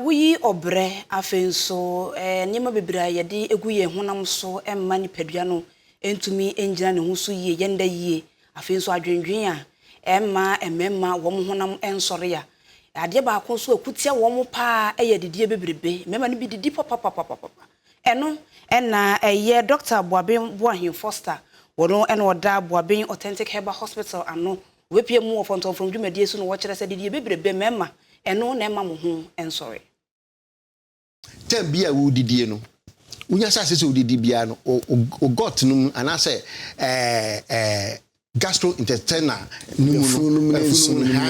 Woyi ɔbrɛ. Afei nso, nneɛma bebree a yɛde gu yɛn honam so mma nipadua no ntumi ngyina ne ho so yie, yɛnda yie. Afei nso, adwendwen a ɛmma mmarima wɔn honam nsɔre a adeɛ baako nso a ɛko tia wɔn pa ara yɛ adidie bebrebe. Mmarima no bi didi papapapapapa. Ɛno na ɛyɛ Dɔkta Boaben Boahen Foster, ɔno na ɔda Boaben Authentic Herbal Hospital ano Wɔbɛpia mu wɔ fɔntɔmfrɔm dwumadie so na wɔkyerɛ sɛ didie bebrebe mmarima, ɛno na ɛmma mo ho nsɔre. Time biara a woredidie no, wonya sɛ asɛ sɛ wodidi biara no, wo gut no mu anaasɛ gastrointestinal no mu no, afunumu no mu no,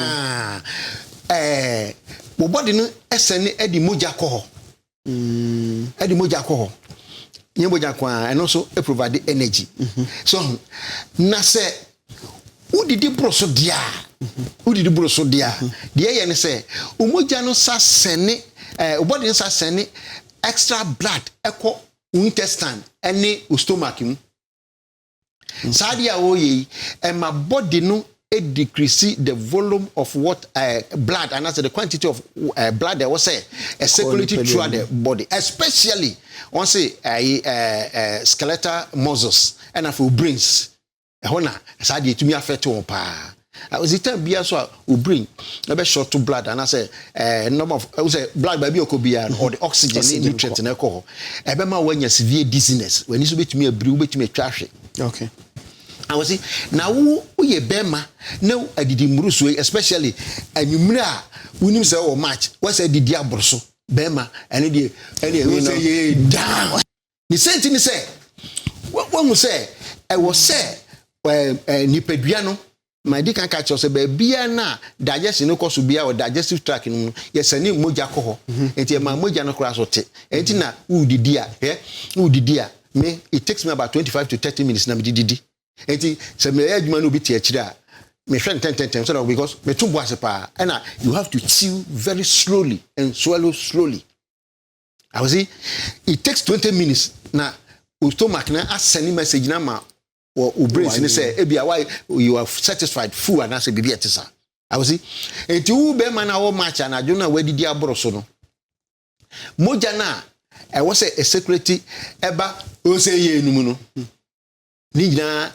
wo body no sɛne de mogya kɔ hɔ. ɛde mogya kɔ hɔ nyɛ mogya nko ara ɛno nso provide energy so na sɛ wodidi boro so deɛ a wodidi boro so deɛ a deɛ ɛyɛ ne sɛ mogya no sa sɛne ɛɛ wobɔde no sa sɛne extra blood ɛkɔ intestine ɛne stomach mu. Saa adeɛ a ɔreyɛ yi, ɛma body no decrease the volume of what uh, blood anaasɛ the quantity of uh, blood ɛwɔ sɛ ɛ circulate throughout the body especially wɔn se ɛyi ɛ ɛ skeletal muscles ɛna afei brains ɛhɔ na saa adeɛ etumi affect wɔn paa. Ɔsi time biara so a obrin ɛbɛ short to blood anaasɛ ɛɛ number of ɛwɔ sɛ blood baabi ɔkɔ biara no ɔde oxygen ne nutrient na ɛkɔ hɔ ɛbɛ ma wɔanya severe dizziness wɔn ani so betumi abiri wo betumi atwa ahwe. Okay. Awɔsi na wo woyɛ bɛrima na adidi mmuruso yi especially anwummere a wonim sɛ wɔ match wɔsɛ didi aboro so bɛrima ɛne deɛ ɛne ɛwɔ sɛ yɛ down. Ne sɛnti ne sɛ, wahu sɛ ɛwɔ sɛ nipadua no ma ɛdi kan ka kyerɛ sɛ baabiara no a digestion no kɔ so biara wɔ digestive tract no mu no yɛsɛne mogya kɔ hɔ mhm. nti ɛma mogya no koraa so te ɛnti na wodidi a hwɛ wodidi a me it takes me about 25 to 30 minutes na mede didi ɛnti sɛ meyɛ adwuma no obi te akyire a mehwɛ no tɛntɛntɛn so that because meto bo ase paa ɛna you have to chew very slowly and swallow slowly I was it takes twenty minutes na o stomach na asɛne message na ma wɔ o brain si ne sɛ ebi a why you are satisfied full anaasɛ biribi a ɛte saa I was it eti wo bɛrima na wɔ match anadwo na wadidi aboro so no mogya na ɛwɔ sɛ ɛsekuriti ɛba ose yɛ enum no ne nyinaa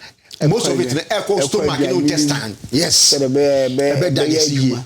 most of it na ɛkɔ stomach ne intestine yes ɛbɛ da ne si yie.